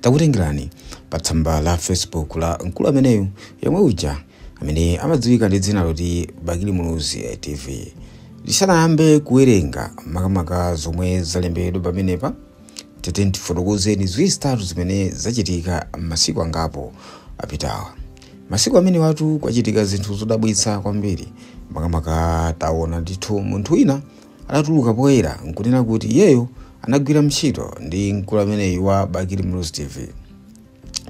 takutengerani pa tsamba la facebook la mkulu ameneyu yomwe uja amene amadziwika ndi dzina loti bakili muluzi tv tisanayambe kuwerenga makamaka zomwe zalembedwa pamenepa titati tifotokozeni ziwiri zitatu zimene zachitika masiku angapo apitawa masiku amenewatu kwachitika zinthu zodabwitsa kwambiri makamaka taona ndithu munthu wina adatuluka poyera nkunena kuti iyeyo anagwira ntchito ndi mkulu ameneyu wa bakili muluzi tv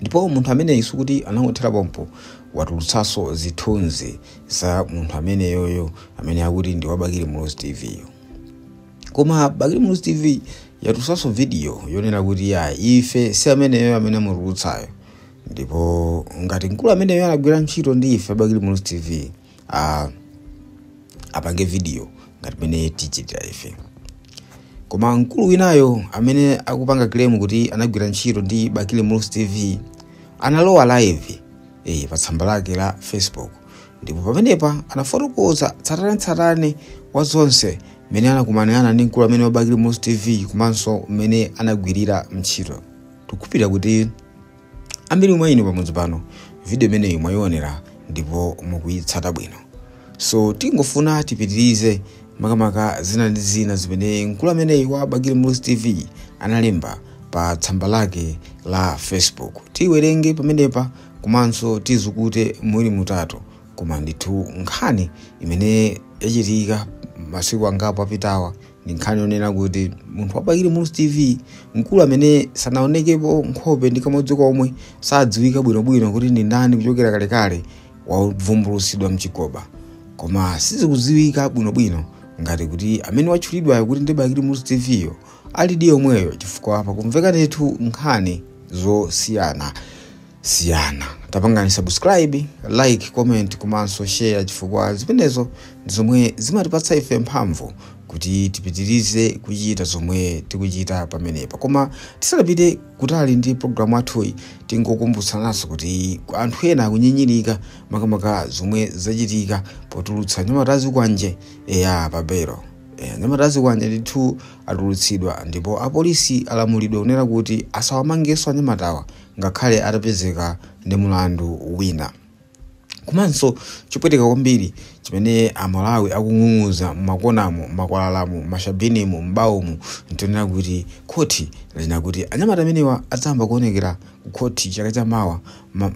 ndipo munthu ameneyi sikuti anangothera pompo watulutsanso zithunzi za munthu ameneyoyo amene akuti ndi wabakili muluzi tv yo koma bakili muluzi tv yatulutsanso vidiyo yonena kuti ife si ameneyo amene amutulutsayo ndipo ngati mkulu ameneyo anagwira ntchito ndi ife bakili muluzi tv apange video ngati mmene tichitira ife koma mkulu winayo amene akupanga claim kuti anagwira ntchito ndi bakili muluzi tv analowa live eh, pa tsamba lake la facebook ndipo pamenepa anafotokoza tsatanetsatane wa zonse mmene anakumanirana ndi mkulu ameneyu wabakili muluzi tv komanso mmene anagwirira ntchito tikukhulupirira kuti ambiri mwa inu pamudzi pano video imeneyi mwayionera ndipo mukuyitsata bwino so tingofuna tipitirize makamaka zina ndi zina zimene mkulu ameneyi wa bakili muluzi tv analemba pa tsamba lake la facebook tiwerenge pamenepa komanso tizukute mwawiri mwatatu koma ndithu nkhani imene yachitika masiku angapo apitawa ndi nkhani yonena kuti munthu wabakili muluzi tv mkulu amene sanaonekepo nkhope ndi kamodzi komwe sadziwika bwinobwino kuti ndi ndani kuchokera kalekale wavumbulutsidwa mchigoba koma sizikudziwika bwinobwino ngati kuti amene watchulidwayo kuti ndi bakili muluzi tv yo alidi yomweyo chifukwa pakumveka ndithu nkhani zosiyana siyana. Tapangani subscribe, like, comment komanso share chifukwa zimenezo ndi zomwe zimatipatsa ife mphamvu kuti tipitirize kuchita zomwe tikuchita pamenepa. Koma tisanapite kutali ndi programu yathuyi tingokumbutsananso kuti anthu ena akunyinyirika makamaka zomwe zachitika potulutsa anyamata azikwanje aja pabelo. Eh, anyamata azikwanje ndithu atulutsidwa ndipo apolisi alamulidwa kunena kuti asawamangenso anyamatawa ngakhale atapezeka ndi mulandu wina. Komanso chopweteka kwambiri chimene Amalawi akung'ung'uza m'makonamu, m'makwalalamu, m'mashabinimu, m'bawomu nchonena kuti khoti lanena kuti anyamata amenewa adzayamba kuonekera ku khoti chaka cha mawa ma,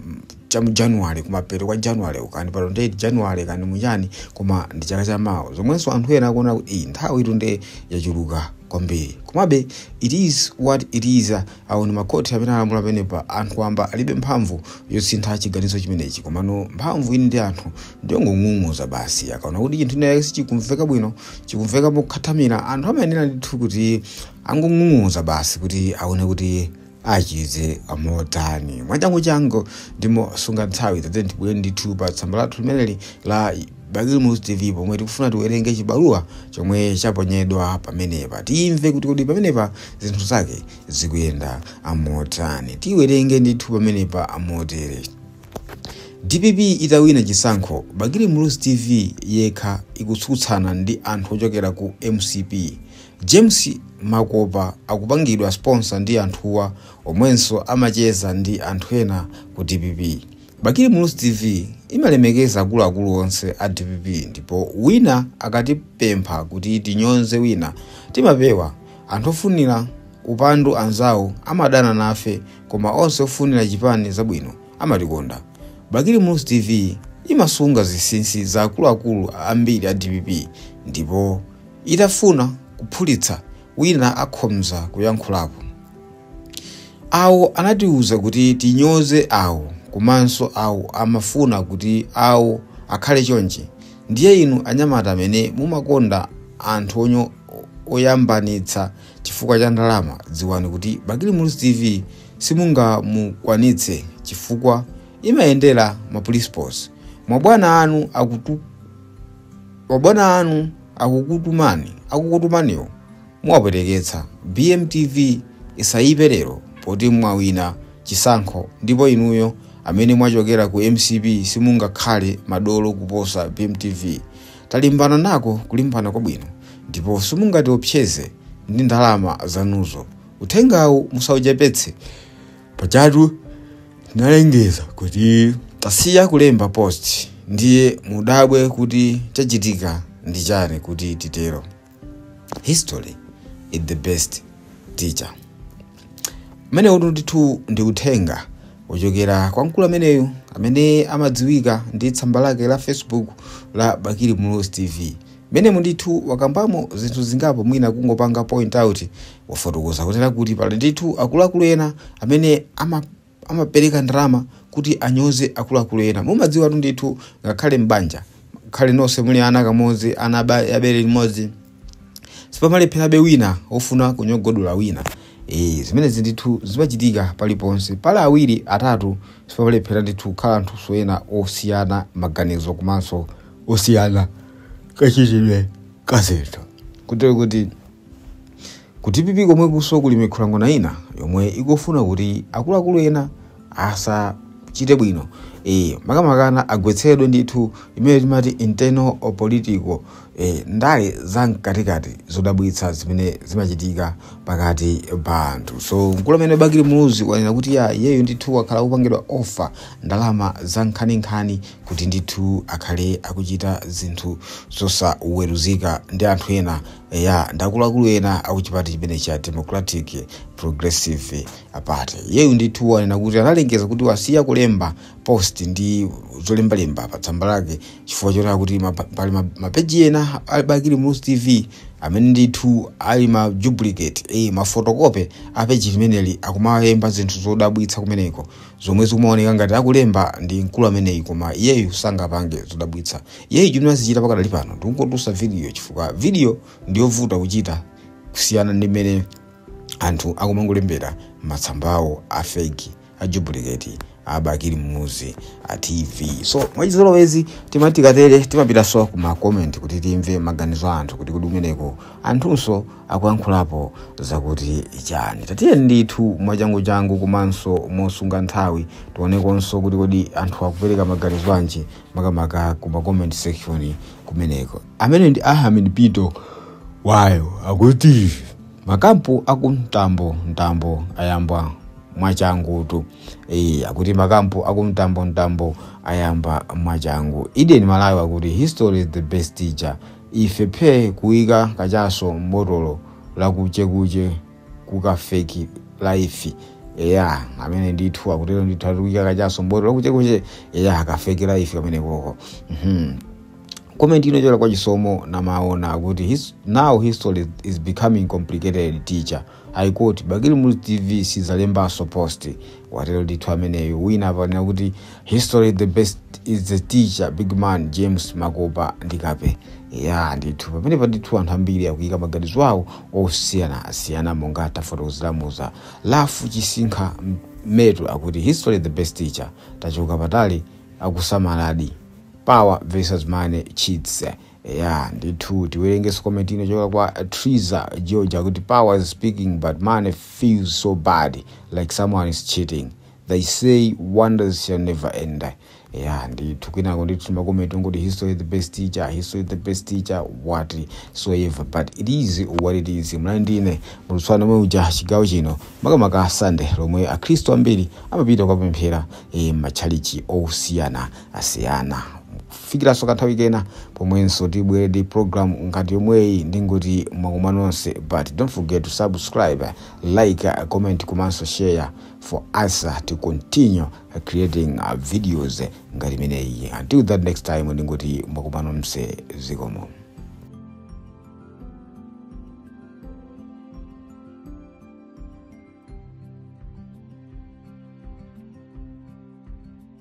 cha mu January kumapeto kwa January uko kaya pa 28 January kaya ndi chani koma ndi chaka cha mawa zomwenso anthu ena akuona kuti iyi nthawitu nde yachuluka kwambiri komabe it is what it is Awo ndi makhoti amene alamula pamenepa. Anthu wamba alibe mphamvu yosintha chiganizo chimenechi. Komano mphamvu ili ndi anthu ndi yongong'ung'uza basi. Akaona kuti chinthu china chake sichikumveka bwino, chikumveka mokhathamira, anthu amayenera ndithu kuti angong'ung'uza basi kuti aone kuti achite amotani. Mwachanguchangu ndi mosunga nthawi, tatiyeni tibwere ndithu pa tsamba lathu limeneli la Bakili Muluzi TV pomwe tikufuna tiwerenge chibaluwa chomwe chaponyedwa pamenepa timve kuti kodi pamenepa zinthu zake zikuyenda amotani tiwerenge ndithu pamenepa amotere dpp itawina chisankho bakili muluzi tv yekha ikutsutsana ndi anthu ochokera ku mcp james makopa akupangidwa sponsor ndi anthuwa omwenso amacheza ndi anthu ena ku dpp Bakili Muluzi TV imalemekeza akuluakulu onse a dpp ndipo wina akatipempha kuti tinyonze wina timapewa. Anthu ofunira upandu anzawo amadana nafe koma onse ofunira chipani zabwino amatikonda. Bakili Muluzi TV imasunga zinsinsi za akuluakulu ambiri a dpp ndipo itafuna kuphulitsa wina akhoza kuyankhulapo. awo anatiuza kuti tinyoze awo komanso awo amafuna kuti awo akhale chonchi ndiye inu anyamata amene mumakonda anthu onyo oyambanitsa chifukwa cha ndalama dziwani kuti bakili muluzi tv simungamukwanitse chifukwa imayendera ma principles mabwana anu akukutumaniwo Muwapweteketsa BM TV isayipe lero poti mwawina chisankho ndipo inuyo amene mwachokera ku mcp simungakhale madolo kuposa BM TV. Talimbana nako kulimbana kwabwino ndipo simungatiopseze ndi ndalama zanuzo. Uthengawu musauchepetse pajatu tinalengeza kuti tasiya kulemba post ndiye mudabwe kuti chachitika ndi chani kuti titero. history is the best teacher umene utu ndithu ndi uthenga wochokera kwa mkulu ameneyu amene amadziwika ndi tsamba lake la facebook la bakili muluzi tv m'menemu ndithu wakambamo zinthu zingapo mwina kungopanga point out wafotokoza kunena kuti pali ndithu akuluakulu ena amene ama amapereka ndalama kuti anyoze akuluakulu ena mumadziwatu ndithu ngakhale m'banja ngakhale nonse muli ana amodzi ana a bere limodzi sipamalepherabe wina ofuna kunyogodola wina e, zimenezi ndithu zimachitika paliponse pali awiri atatu sipamalephera ndithu kukhala anthu ena osiyana maganizo komanso osiyana kachitidwe kazinthu kutero kuti Ku dpp komwekuso kuli mikhulang'ona ina yomwe ikufuna kuti akuluakulu ena asachite bwino eh, makamakana agwetsedwe ndithu imene timati internal or political eh, ndale za mkatikati zodabwitsa zimene zimachitika pakati pa anthu so mkulu amene bakili muluzi wanena kuti ya iyeyo ndithu wakhala akupangidwa offer ndalama za nkhaninkhani kuti ndithu akhale akuchita zinthu zosaweruzika ndi anthu ena eya ndi akuluakulu ena akuchipani chimene cha democratic progressive party iyeyu ndithu wanena kuti analengeza kuti wasiya kulemba post ndi zolembalemba pa tsamba lake chifukwa choti akuti mapa- pali ma- mapeji ena a bakili muluzi tv amene ndithu ali ma duplicate eh, mafotokope a peji limeneli akumalemba zinthu zodabwitsa kumeneko zomwe zikumaoneka ngati akulemba ndi mkulu ameneyi koma iyeyu sangapange zodabwitsa iyeyu chimene azichita pakadali pano ndikungodutsa video chifukwa video ndiyovuta kuchita kusiyana ndi mmene anthu akumangolembera matsambawo a fake a duplicate a bakili muluzi tv so mwachizolowezi timati tikatere timapitanso ku makomenti kuti timve maganizo a anthu kuti kodi kumeneko anthunso akuyankhulapo zakuti chani tatiyeni ndithu mwachanguchangu komanso mosunga nthawi tionekonso kuti kodi anthu akupereka maganizo anji makamaka ku ma comment section kumeneko amene ndi ahamid pito wayo akuti makampu aku mtambo mtambo ayamba mwachangutu e, akuti makampu aku mtambo mtambo ayamba mwachangu eden malawi akuti history is the best teacher ife phe kuyika kachaso mbotolo lakuchekuche kuka fake life eya amene ndithu akutero ndithu ati kuyika kachaso mbotolo lakuchekuche eya ka fake life kameneko ko Mhm. comment ino yochokera kwa chisomo namaona akuti his, now history is becoming complicated teacher i quote bakili muluzi tv sizalembanso post watero ndithu ameneyo wina apa anena kuti history the best is the teacher big man james makopa ndi kape ya ndithu pamenepa ndithu anthu ambiri akuyika maganizo awo osiyanasiyana monga tafotokozeramu za lafu chisinkha m- metu akuti history the best teacher tachoka patali akusamaladi power versus money cheats Eya ndithu tiwerengeso comment ino yochoka kwa Triza George akuti power is speaking but money feels so bad like someone is cheating they say wonders shall never end eya ndithu kwinako ndithu makomenti ngoti history is the best teacher history is the best teacher whatsoever but it is what it is mlani ndine mulutswana omwe uja chigawo chino makamaka sande lomwe akhristu ambiri amapita kukapemphera mmatchalichi osiyana tasiyana kufikiranso kanthawi kena pomwenso tibwere ndi program ngati yomweyi ndingoti mwakoma nonse but don't forget to subscribe like comment komanso share for us to continue creating uh, videos ngati imeneyi until that next time ndingoti mwakoma nonse zikomo